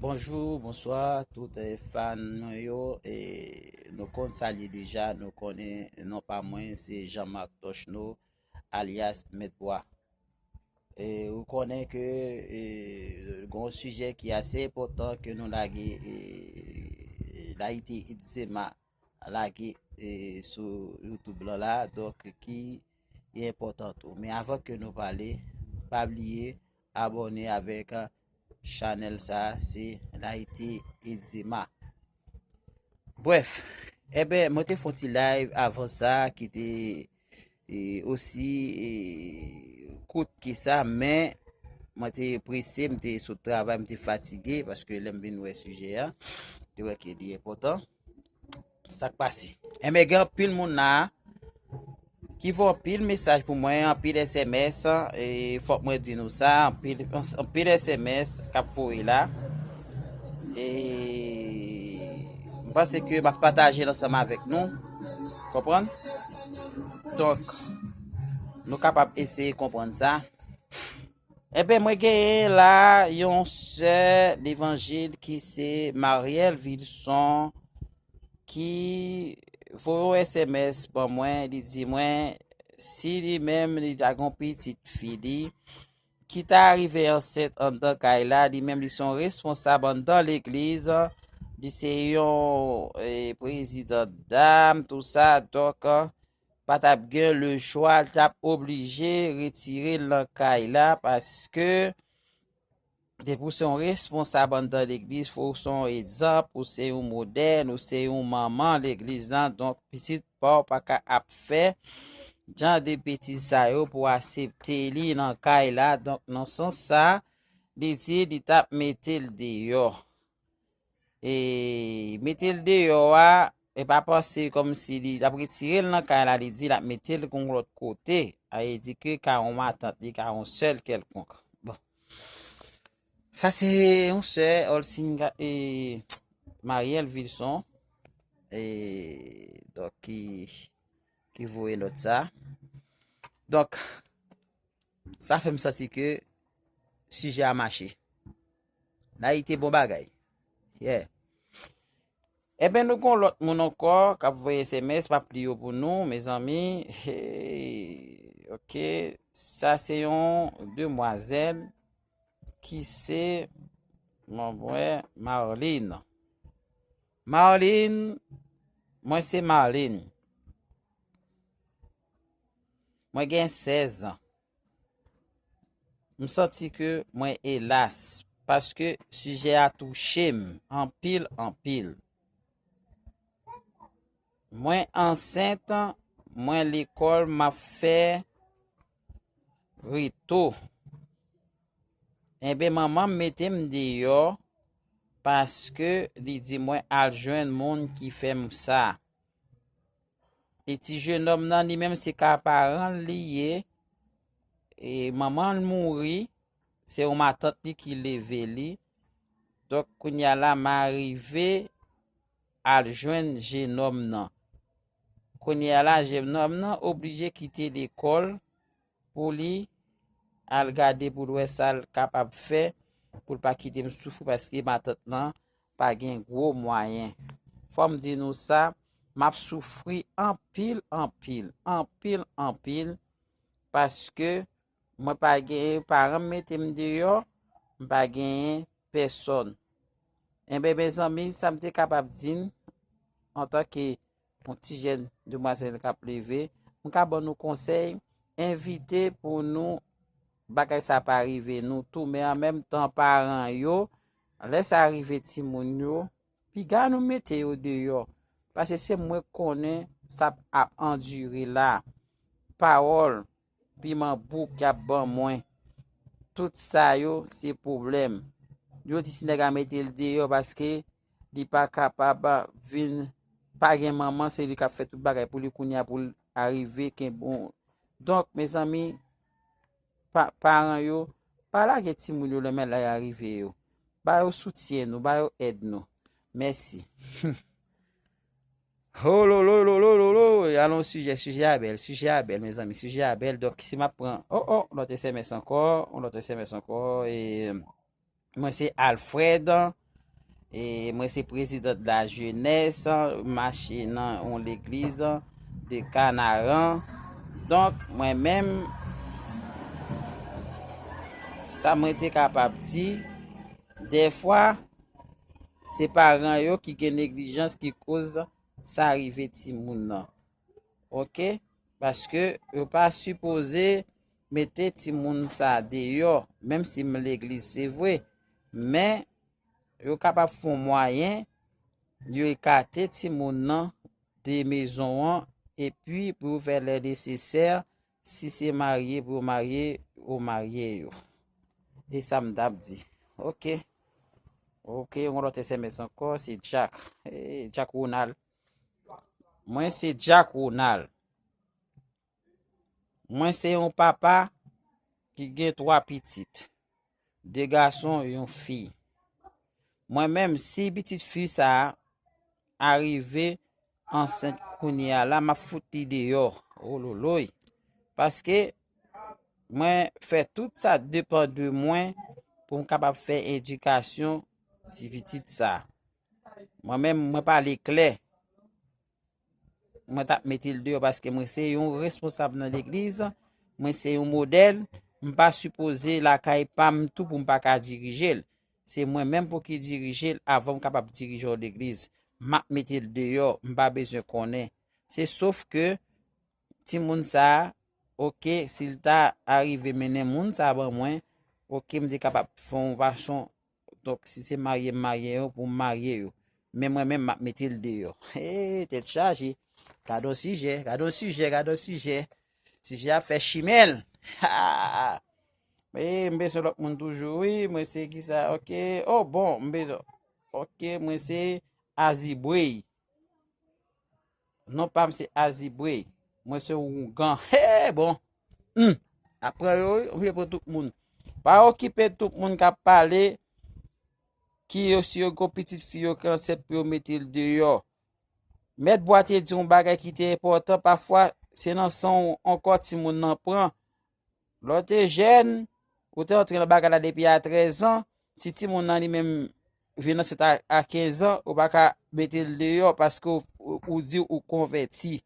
Bonjou, bonswa tout fan mwen yo e nou konn sa li ye deja, nou konnen non pa mwen se Jean Marc Tochno alyas Mèt Bwa. E ou konnen ke e, gon sijè ki ase enpòtan ke nou lage e, Layite Itzema Lage sou youtube lan la donk ki e enpotan tou men avan ke nou pale pa bliye abone avek chanel sa se layite egzema bref ebe eh mwen te fon ti live avan sa ki te e osi e kout ki sa men mwen te prese mwen te sou travay mwen te fatige paske lem vin wè sije a te wè ke li enpotan Sak pase. Enbe gen anpil moun la ki vo anpil mesaj pou mwen, anpil SMS, e fòk mwen di nou sa, anpil, anpil SMS kap voye la. E mwen se ke map pataje lansam avèk nou. Konpran? Donk, nou kapab eseye konpran sa. Enben mwen genyen la yon sè levanjil ki se Mariel Vilson ki voye yon SMS ban mwen, li di mwen si li menm li ta gon pitit fi li ki ta rive ansent andan kay la, li menm li son responsab andan legliz, li se yon eh, prezidan dam, tou sa, dok, pa tap gen le chwa l tap oblije retirel nan kay la paske depi w se yon responsab anndan legliz fò w se yon egzanp ou se yon modèl ou se yon manman legliz lan donk pitit pa w pa ka ap fè jan de betiz sa yo pou asepte li nan kay la donk nan sans sa li di li tap mete l deyò. E mete l deyò a, e pa panse kòm si li ap retire l nan kay la, li di l ap mete l kon lòt kote, a e di ke ka yon matant li, ka yon sèl kèlkonk. Bon, sa se yon sè Olsin e Mariel Vilson, e dok ki ki voye lòt sa. Dok, sa fèm santi ke sijè a mache. Nayite bon bagay. Yeah. Eben nou gon lot moun anko kap voye sms map li yo pou nou mezanmi. Hey. Ok. Sa se yon demwazel ki se mwen mwen Marlene. Marlene mwen se Marlene. Mwen gen 16 ans. M santi ke mwen elas paske sijè a touche m anpil anpil. Mwen ansent, mwen lekòl m ap fè reto. Enben manman m mete m deyò paske li di mwen al jwenn moun ki fè m sa. E ti jenom nan li menm se ka paran li ye. E manman l mouri. Se yon matant li ki leve li. Donk kounya la ma rive al jwenn jenom nan. Kounya la jenom nan oblije kite lekol. pou li al gade pou l wè sa l kapab fè pou l pa kite m soufri paske matant lan pa gen gwo mwayen. Fò m di nou sa, m ap soufri anpil anpil, anpil anpil paske mwen pa genyen, paran m mete m deyò, m pa genyen pèsòn. Enben mezanmi sa m te kapab di n antanke Yon ti jèn demwazèl k ap leve. M ka ban nou konsèy, evite pou nou bagay sa pa rive nou tou men an menm tan paran yo lè sa rive timoun yo piga nou mete yo deyò pase se mwen k konnen sa ap andire la pawòl Piman bouk yap ban mwen. Tout sa yo se pwoblèm. Yo di si nèg a mete l deyò paske li pa kapab vin pa gen manman se li kap fè tout bagay pou li kounya pou l arive kenbe yon Donk mezanmi paran yo pa lage timoun yo lè malè a rive yo. Ba yo soutyen nou, ba yo èd nou. Mèsi. Hololololololoo alon sijè sijè a bèl sijè a bèl mezanmi sijè a bèl dòk si map pran o o lòt SMS ankò on lòt SMS ankò e mwen se Alfred e mwen se prezidant la jenès mache nan on legliz de Kanaran donk mwen menm sa mwen te kapab di defwa Se paran yo ki gen neglijans ki koz sa rive timoun nan. Ok paske yo pa sipoze mete timoun sa deyò menm si m legliz se vre men yo kapab fon mwayen yo ekate timoun nan de mezon an epi pou yo fè lè nesesè Si se marye pou yo marye yo marye yo e sa m tap di ok ok yon lot sms anko se Jack eh, Jack Ronald mwen se Jack Ronald mwen se yon papa ki gen 3 pitit 2 gason yon fi mwen menm si pitit fi sa arive ansent kounye a la map fout li deyò ololoy paske mwen fè tout sa depan de mwen pou m kapab fè edikasyon ti pitit sa mwen menm mwen pale klè Mwen tap metel deyò paske mwen se yon responsab nan legliz, mwen se yon modèl, m pa sipoze lakay pam tou pou m pa ka dirijel. Se mwen menm pou ki dirijel avan m kapab dirije yon legliz. Map metel deyò, m pa bezwen konnen. Se sof ke ti moun sa, ok, sil ta arive mennen moun sa ban mwen, ok, m te kapab fon yon fason Donk si se marye m marye yo pou m marye yo. Men mwen menm m ap mete l deyò. Hey, tèt chaje. Gade yon sijè, gade yon sijè, gade yon sijè. Sijè ap fè chimen l. Ha! Hey, m bezwen lòt moun toujou wi. Mwen se ki sa? Ok. Oh bon, m bezwen. Ok, mwen se Azibwey. Non pam se Azibre. Mwen se Ougan. He bon. Hmm. Apre yo, ou vle pou tout moun. Pa okipe tout moun ka pale ki yo si yo go pitit fi yo ki anset pou yo mete l deyo. Met bwa te di yon bagay ki te epotan. Pafwa se nan san ou anko ti moun nan pran. Lè w te jèn, ou te antre nan bagay la depi a 13 an, si timoun nan li menm vin ansent a 15 an, ou pa ka mete l deyò paske ou di ou konvèti.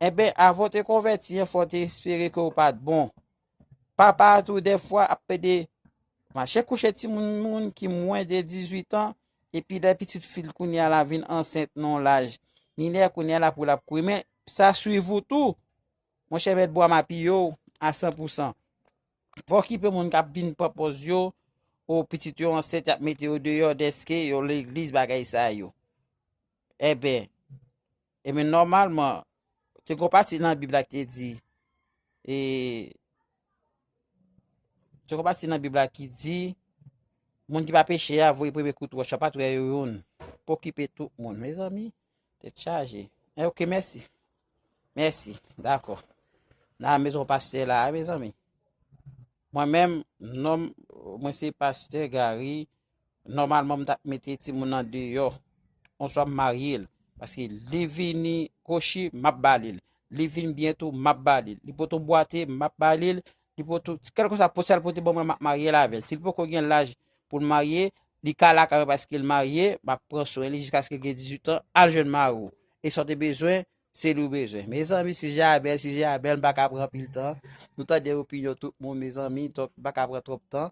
Eben, eh avan te konvèti an, fò te espere ke ou pa t bon. Papa a tou defwa ap pede mache kouche timoun moun ki mwen de 18 an, epi lè pitit fil kounye a la vin ansent non laj minè kounye a la pou l ap koumen, sa swiv ou tou. Monchè mèt bwa mapi yo a san pou san. Fò kipe moun kap vin pran pòz yo o pitit yo ansent yap mete yo deyò dèske yo legliz bagay sa yo. Eben, eben nòmalman, te gon pati nan bib la ki te di, e, te gon pati nan bib la ki di, moun ki pa peche a voye premye kout wòch a pat wè yo youn. Pokipe tout moun mezanmi. Tèt chaje. E eh, ok, mèsi. Mèsi. Dakò. Na mezon pastè la, a mezanmi. Mwen menm, nom, mwen se pastè Gary. Normalman m tap mete ti moun nan deyò. Onswa m marye l. Paske li vini kochi, map balil. Li vini byento, map balil. Li poton bwate, map balil. li poto, kèlkeswa po sal pote ban mwen map marye l avèl. Sil poko gen laj pou l marye, li ka la kay mwen paske l marye, map pran swen li jiskaske l gen 18 an, al jwenn mari w. E sa w te bezwen, se li w bezwen. Mezanmi sijè a bèl, sijè a bèl, m pa ka pran anpil tan. Nou tande opinyon tout moun mezanmi, donk m pa ka pran twòp tan.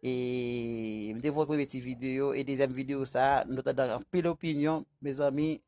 E m te fè yon premye ti videyo, e dezyèm videyo sa, nou tande anpil opinyon, mezanmi.